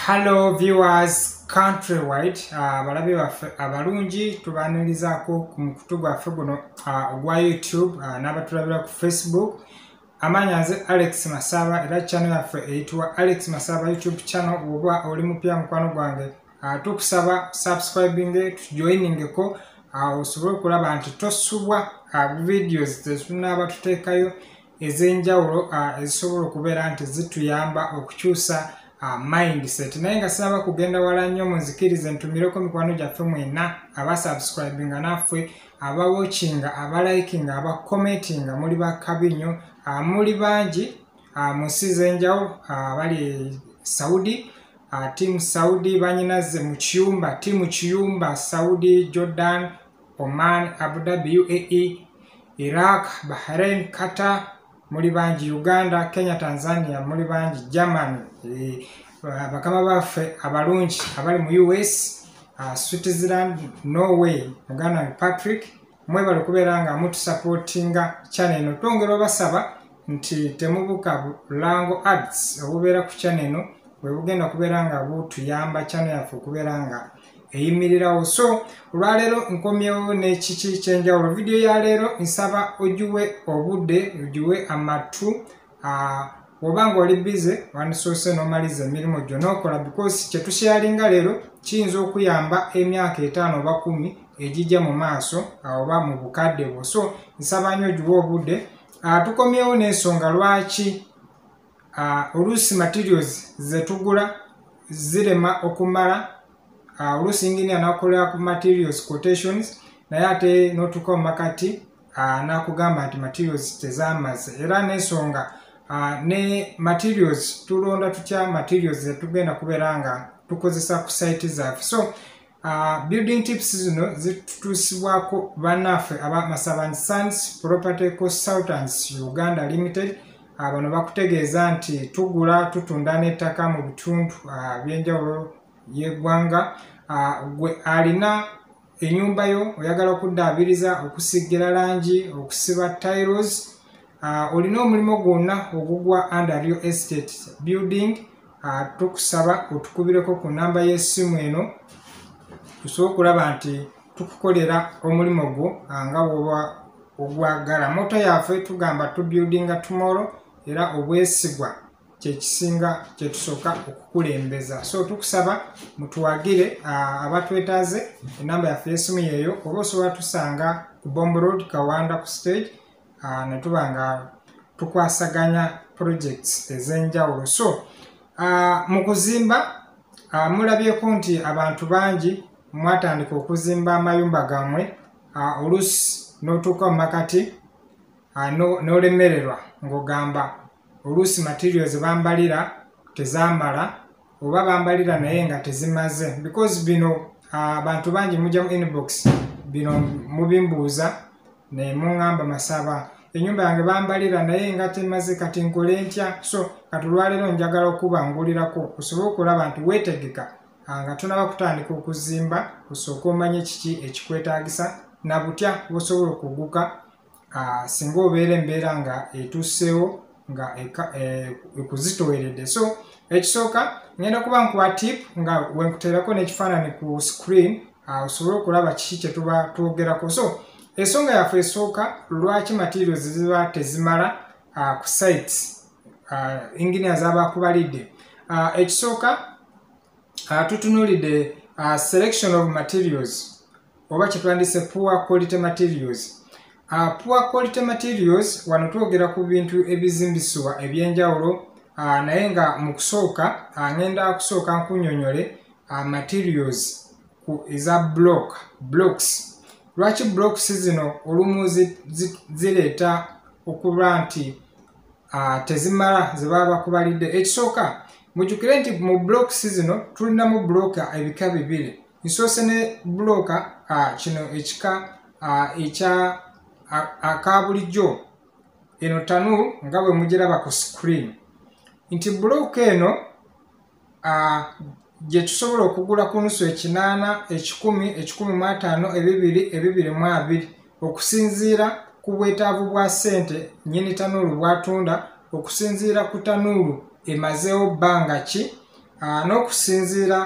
Hello viewers countrywide ah, abalabe uh, baffe abalungi tubanirizaako ku mukutu gwaffe guno ah, ogwa uh, youtube uh, n'abatulabira ku facebook amaanyi nze alex masaba era chano yaffe eyitibwa alex masaba youtube channel oba oli mupya mukwano gwange uh, tukusaba subscribing tujoiningeko uh, osobole okulaba nti tosubwa uh, videos tetunaaba tuteekayo ez'enjawulo ezisobola okubeera nti zituyamba okukyusa mindset naye nga sinaba kugenda wala nnyo munzikirize ntumireko mikwano gyaffe mwena aba subscribinga naffe aba watchinga aba likinga aba commentinga muli bakabi nnyo muli bangi mu nsi z'enjawulo abali e saudi tiamu saudi banyinaze mu kiyumba tiamu kiyumba saudi jordan oman abu dhabi uae iraq bahrain qatar muli bangi uganda kenya tanzania muli bangi germany eh, bakama baffe abalungi abali mu us ah, switzerland norway muganda wange patrick mwebale okubeera nga mutusapootinga chane eno twongera obasaba nti temubuka lango arts obubeera ku chane eno bwebugenda okubeera nga butuyamba chane yaffe okubeera nga eyimirirawo so olwaleero nkomyewo nekiki kyenjawulo vidiyo ya leero nsaba ogiwe obudde ogiwe amattu oba nga oli bize wandisoose nomaliza emirimu gyo nokola because kyetusharinga leero kiyinza okuyamba emyaka etaano oba kumi egijja mu maaso oba mu bukadde bwo so nsaba nyo ogiwe obudde tukomyewo n'ensonga lwaki Ah, oluusi materials zetugula zirema okumala ah, oluusi engini anakolera ku materials quotations naye ate notuka omakati ah, nakugamba nti materials tezamaze era nensonga ne materials tulonda tutya materials zetugenda kubeera nga tukozesa ku site zaffe so Uh, building tips zino zitutuusibwako bannaffe aba masaban sons property consultants uganda limited uh, bano bakutegeeza nti tugula tutunda n'ettaka mu bitundu uh, by'enjawulo y'eggwanga uh, gwe alina enyumba yo oyagala okuddaabiriza okusigira langi okusiba tiles uh, olina omulimu gwonna ogugwa under real estate building ah, tukusaba otukubireko ku namba y'essimu eno tusobola okulaba nti tukukolera omulimu gwo ah, nga woba ogwagala moto yaffe tugamba tubuildinga tomorrow era obwesigwa kyekisinga kyetusooka okukulembeza so tukusaba mutuwagire ah, abatwetaaze enamba yaffe y'essimu yeeyo oba osobola tusanga ku bomb road kawanda ku stage uh, ne tuba nga tukwasaganya projects ez'enjawulo so uh, mu kuzimba uh, mulabyeko nti abantu bangi mwatandika okuzimba amayumba gammwe uh, olusi n'otuuka mu makati uh, n'olemererwa no ng'ogamba oluusi material zebambalira tezamala oba bambalira naye nga tezimaze because bino uh, bantu bangi mujja mu inbox bino mubimbuuza naye muŋamba masaba enyumba yange bambalira naye nga temaze kati nkole ntya so kati olwaleero njagala okuba ngulirako osobole okulaba nti weetegeka ah, nga tunaba kutandika okuzimba osooka omanye kiki ekikwetaagisa na butya bwosobola okuguka uh, singa obeera embeera nga etuuseewo nga eh, ekuzitoweredde so ekisooka ngenda kuba nkuwa tip nga wenkuteerako n'ekifaanani ku screen ah, osobole okulaba kiki kyetuba twogerako so ensonga yaffe esooka lwaki materials ziba tezimala ah, ku sites enginia zabakubalidde ekisooka uh, tutunulidde uh, selection of materials oba kyetwandise poor quality materials uh, poor quality materials wano twogera ku bintu ebizimbisibwa ebyenjawulo uh, naye nga mu kusooka uh, ngenda kusooka nkunyonyole uh, materials ku eza block blocks lwaki blocks zino olumu zireeta okuba nti ah, tezimala zebaba bakubalidde ekisooka mujukire nti mu blocks zino tulinamu bloka ebika bibiri nsoose ne bloka ah, kino ekika ah, ekya aka bulijjo eno tanu nga bwe mugiraba ku screen nti bloka eno gye tusobola okugula ku nusu ekinaana ekikumi ekikumi mu ataano ebibiri ebibiri mu abiri okusinziira ku bwetaavu bwa ssente nyini tanuulu bwatunda okusinziira ku tanuulu emazeewo bbanga ki n'okusinziira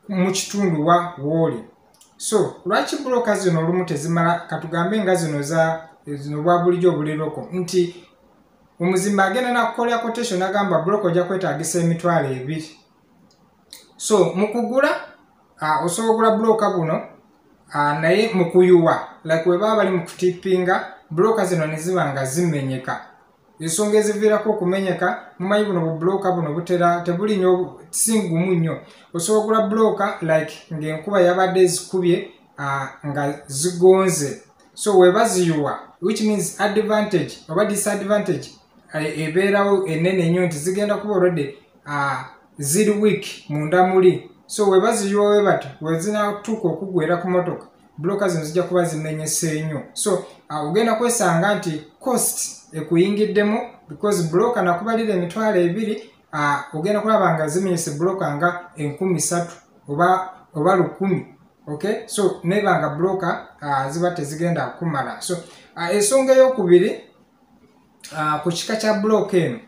mu kitundu wa wooli so lwaki bulooka zino olumu tezimala katugambe nga zino za zino bwa bulijjo obuliroko nti omuzimba agenda nakukolera quotation agamba block ojja kwetagisa emitwalo ebiri so mukugula uh, osobola ogula bloka guno uh, naye mukuyuwa like webaba bali mukutipinga bloka zino neziba nga zimenyeka ensonga eziviirako okumenyeka mumanyi buno bubulooka buno butera tebuli nyo singumu nnyo osobola ogula bulooka like ngaenkuba yabadde ezikubye nga zigonze so webaziyiwa which means advantage oba disadvantage eh, ebeerawo enene ennyo nti zigenda kuba olwedde ah, ziri week munda muli so webaziyiwa webato wezinatuuka okugwera ku motoka bloka zino zijja kuba zimenyese nnyo so ah, ogenda kwesanga nti cost ekuyingiddemu because bloka nakubalira emitwalo ebiri ah, ogenda kulaba nga zimenyese bloka nga enkumi satu oba lukumi okay so nebanga broker uh, ziba tezigenda kumala so uh, esonga eyokubiri uh, ku kika kya block eno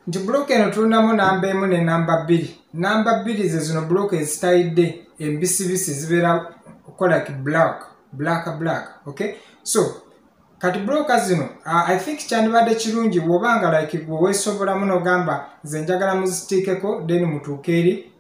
nti block eno tulinamu namba emu ne namba bbiri namba bbiri ze zino block ezitayidde embisibisi zibeera kola ki black black black okay so kati broka zino uh, i think kyandibadde kirungi woba nga like gwe wesobolamu nogamba nze njagala muzitiikeko then mutuuke eri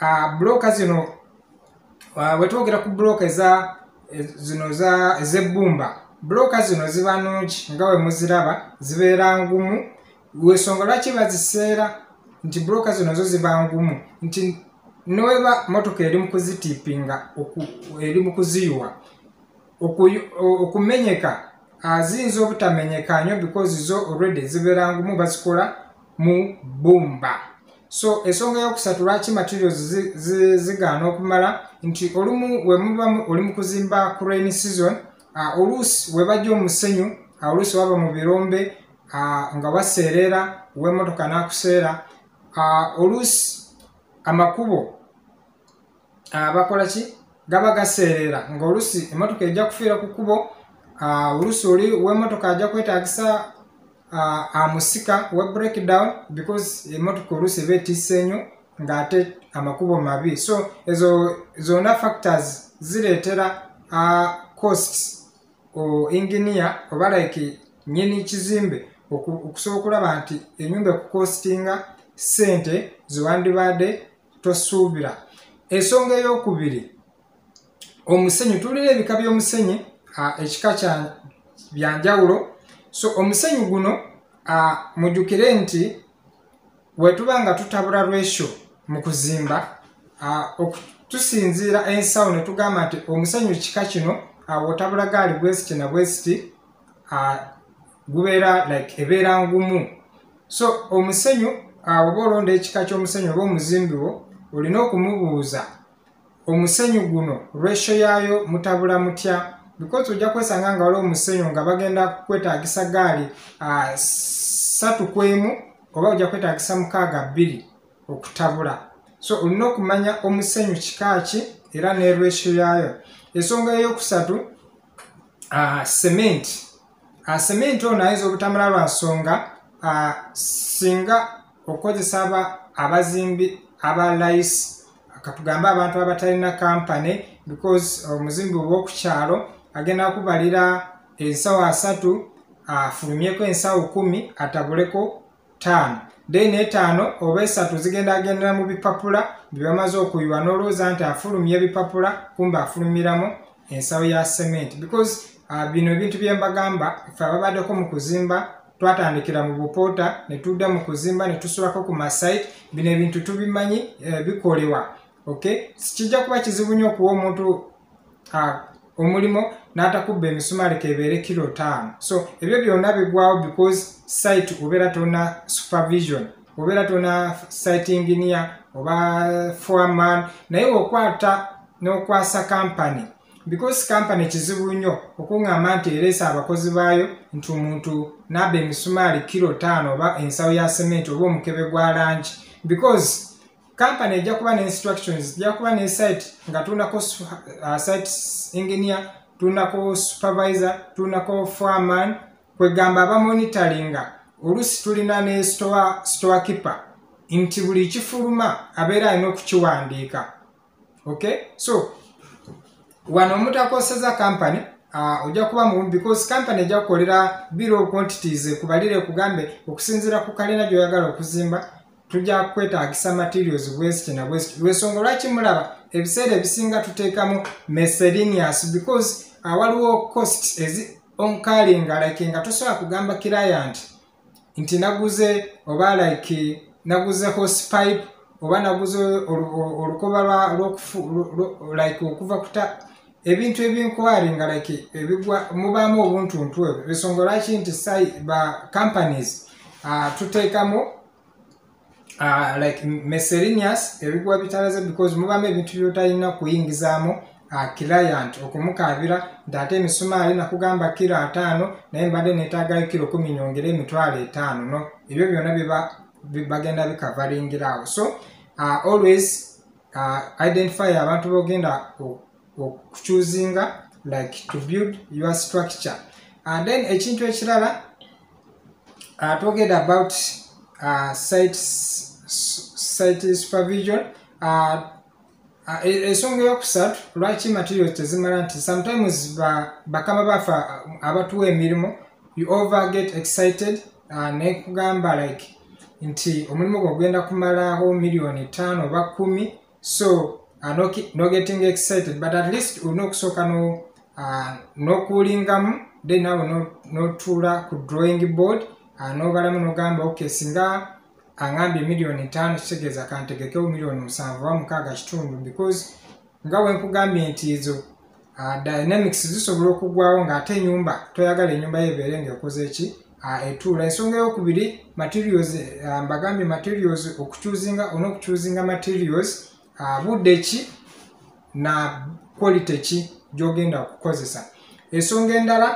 ah, buloka zino ah, wetwogera ku buloka eza eh, zino ezebbumba buloka zino ziba nungi nga wemuziraba zibeera ngumu wesonga lwaki baziseera nti buloka zino zo ziba ngumu nti neweba motoka eri mukuzitiipinga eri mukuziyiwa okumenyeka aziyinza obutamenyeka nyo because zo already zibeera ngumu bazikola mu bbumba so ensonga yokusatu lwaki materials zigaana okumala nti olumu wemubamu oli mu kuzimba ku rain season uh, oluusi webajja omusenyu uh, oluusi waba mu birombe uh, nga waseerera wemotoka nakuseera uh, oluusi amakubo abakola ki gaba gaseerera ngaolusi emotoka ejja kufiira ku kubo olusi oli wemotoka ajja kwetagisa amusika we breakdown because emotoka olusi eba etisse enyo ngaate amakubo mabi so ezo zona factors zireetera cost enginia oba like nyini kizimbe okusobola okulaba nti enyumba ekucostinga sente zewandibadde tosuubira ensonga eyokubiri omusenyu tulina ebika byomusenyi ekika kya byanjawulo so omusenyu guno mujukire nti wetuba nga tutabula lwesho mu kuzimba tusinziira ensawo netugamba nti omusenyu kika kino awotabula gaali bwesiti na bwesiti uh, gubeera like ebeera ngumu so omusenyu uh, oba olonda ekika ky'omusenyu oba omuzimbi wo olina okumubuuza omusenyu guno ratio yaayo mutabula mutya because ojja kwesanga nga waliwo omusenyu nga bagenda kwetagisa gaali uh, satu kwemu oba ojja kwetagisa mukaaga bbiri okutabula so olina okumanya omusenyu kikaaki era nerwesyo yaayo ensonga eyokusatu cement cement ono ayinza obutamala lwa nsonga singa okukozesa aba abazimbi aba lice katugambe abantu abatalina kampany because omuzimbi oba okukyalo agenda kubalira ensawo asatu afulumyeko ensawo kumi atabuleko taano dayina etaano oba esatu zigendagendera mu bipapula bye bamaze okuyiwa n'olwooza nti afulumya ebipapula kumbe afulumiramu ensawo ya cement because uh, bino ebintu bye mbagamba fe ababaddeko mu kuzimba twatandikira mu bupoota ne tudda mu kuzimba ne tusulako ku masite bino ebintu tubimanyi eh, bikolewa okay kijja kuba kizibu nnyo okuwa omuntu omulimu n'atakubba emisumaali kebeere kiro taano so ebyo byonna bigwawo because site obeera tona supervision obeera tona site engineer oba foreman naye okwata n'okwasa kampany because kampany kizibu nnyo okuŋŋamba nti ereesa abakozi baayo nti omuntu n'aba emisumaali kiro taano oba ensawo ya sementi oba omukebe gwa langi because company ejja kuba ne instructions ejja kuba ne site nga tuunako uh, site engineer tuunako supervisor tuunako foreman kwegamba abamonitoringa oluusi tulina ne store store keeper nti buli kifuluma abeera alina okukiwandiika okay so wano omutakoseza company uh, ojja kuba mu because company ejja kukolera biro quantities ekubalire ekugambe okusinziira ku kalina gyoyagala okuzimba tujja kwetagisa materials bweziti na bweziti lwensonga lwaki mulaba ebiseera ebisinga tuteekamu meselinius because uh, waliwo cost ezi onkalinga like nga tosobola kugamba client nti naguze oba like naguze horse pipe oba naguze olukoba like okuva kuta ebintu ebinkwari nga like ebigwa mubaamu obuntuntu ebyo ensonga lwaki nti ba companies uh, tuteekamu uh, like meserineous ebigwa bitalaze because mubamu ebintu byotalina kuyingizaamu uh, client okumukaabira nti ate emisumaali nakugamba kiro ataano naye mbadde netaagayo kiro kumi nyongere emitwalo etaano no ebyo byona bagenda bikavaringiraawo so uh, always uh, identify abantu bogenda okuchuzinga like to build your structure and then ekintu ekirala uh, toged about uh, site, site supervision uh, uh, e, ensonga eyokusatu lwaki materials tezimala nti sometimes bakama ba bafa uh, abatuwa emirimu you over get excited uh, nekugamba like nti omulimu gwe ogenda kumalaawo miliyoni ttaano oba kumi so uh, no, no getting excited but at least olina okusooka uh, nokuulingamu no then nawe notuula no ku drawing board uh, nobalamu nogamba okay singa angambye millioni ntaano kitegeeza kantegekewo millioni musanvu oba mukaaga kitundu because nga wenkugambye nti ezo uh, dynamics zisobola okugwawo ng'ate enyumba toyagala enyumba yo ebeere ng'ekoze eki uh, etuula ensonga eyokubiri materials uh, mbagambye materials okucuzinga ona okucuzinga materials uh, budde ki na quality ki gyogenda okukozesa ensonga endala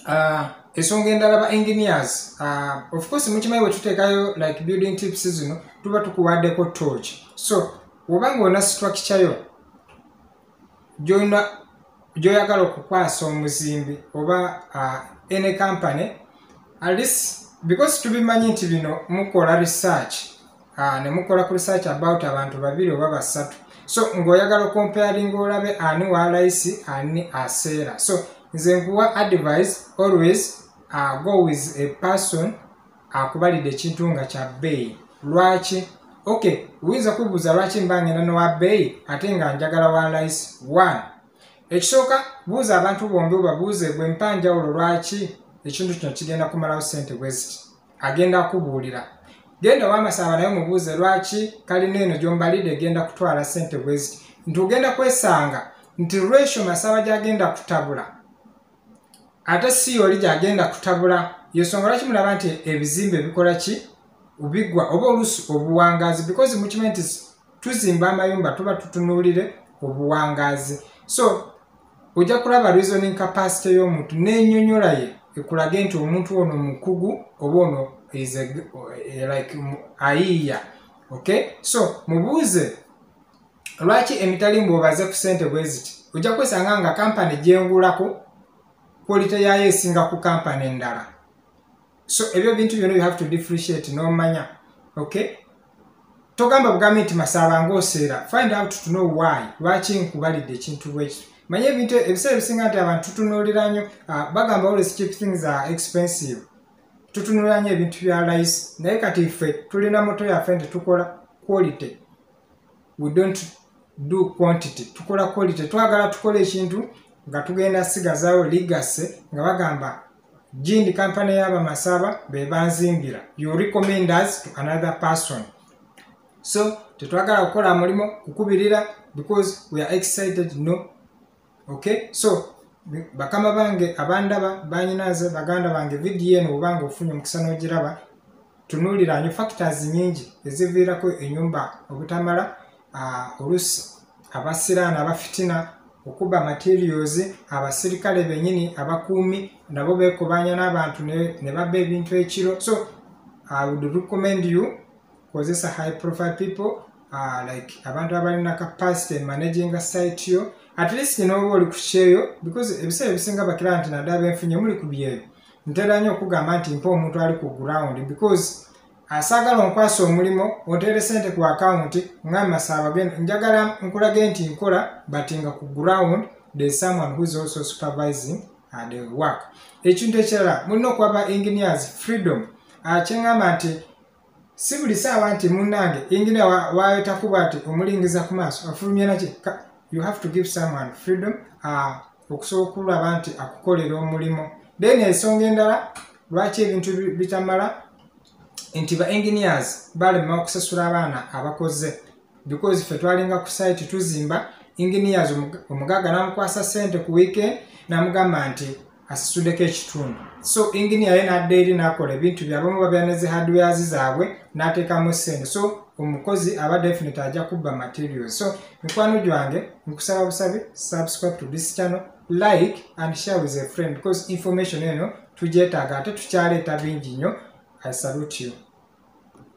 Ah, ensonga endala ba engineers ah, of course mukimanyi bwetuteekayo like building tips zino tuba tukuwaddeko torch so oba ngaona structure yo gyona gyoyagala okukwasa omuzimbi oba ah, any company atleast because tubimanyi nti bino mukola research ah, ne mukola ku research about abantu babiri oba basatu so ng'oyagala okompayaringa olabe ani wa laisi ani aseera so nze nkuwa advice always uh, go with a person akubalidde ekintu nga kya bbeeyi lwaki ok oyinza kubuuza lwaki mba ngenda nowa bbeeyi ate nga njagala wa laisi one ekisooka buuza abantu bombi obabuuze gwe mpa njawulo lwaki ekintu kino kigenda kumalawo sente bweziti agenda kubuulira genda wamasaba naye mubuuze lwaki kalina eno gyombalidde egenda kutwala sente bweziti nti ogenda kwesanga nti lwesho masaba gyagenda kutabula ate si oli gyagenda kutabula yesonga lwaki mulaba nti ebizimba ebikola ki biggwa oba oluusi obuwangaazi because mukimanyi nti tuzimba amayumba tuba tutunuulire obuwangaazi so ojja kulaba reasoning capacity y'omuntu n'enyonyola ye ekulage nti omuntu ono mukugu oba ono eh, like ayiiya okay so mubuuze lwaki emitalimbu obaze ku sente bweziti ojja kwesanga nga kampani gyengulako kwolite yaayo esinga ku kampani endala so ebyo bintu byona you have to differentiate nomanya okay togamba bugambi nti masaba ngaoseera find out to know why lwaki nkubalidde ekintu bwekito manye ebintu ebiseera ebisinga nti abantu tutunuulira nyo ah, bagamba always cheap things are expensive tutunuulira nyo ebintu bya lice naye kati ffe tulina moto yaffe nti tukola quality we don't do quantity tukola quality twagala tukola ekintu nga tugenda sigazawo ligase nga bagamba jindi kampani y'abamasaba be banzimbira you recommend us to another person so tetwagala kukola mulimu kukubirira because we are excited no okay so bakama bange abandaba banyinaze baganda bange vidiyo eno obanga ofunye omukisa n'ogiraba tunuulira nyo factors nyingi eziviirako enyumba obutamala olusi abasiraani abafitina okuba materials abasirikale benyini abakuumi nabo bekubanya n'abantu ne babba ebintu ekiro so i would recommend you kozesa high profile people uh, like abantu abalina capacity managing a site yo at least nooba oli kukyeyo because ebiseera ebisinga bakira nti nadaba enfunye muli ku byeyo ntera nnyo okugamba nti mpa omuntu ali ku ground because asaagala onkwasa omulimu otere sente ku akawunti ngamasaabagenda njagala nkulage nti nkola but nga ku ground the someone whois also supervising uh, the work ekintu ekirala mulina okuba ba engineers freedom uh, kyengamba nti si buli saawa nti munnange enginia wayetakuba ati omulingiza ku maaso afulumya naki you have to give someone freedom uh, okusobola okulaba nti akukolera omulimu then ensonga endala lwaki ebintu bitamala nti ba engineers balema okusasula abaana abakoze because fe twalinga ku site tuzimba engineers omugagga namukwasa sente ku weekend namugamba nti asitudeko ekitundu so enginia ye nadda eri nakola ebintu byabamu babyaneze hardwares zaabwe natekamu sente so omukozi aba definite ajja kubba materials so mikwano gyange nkusaba busabi subscribe to this channel like and share with a friend because information eno tugyetaaga ate tukyaleeta bingi nnyo i salute you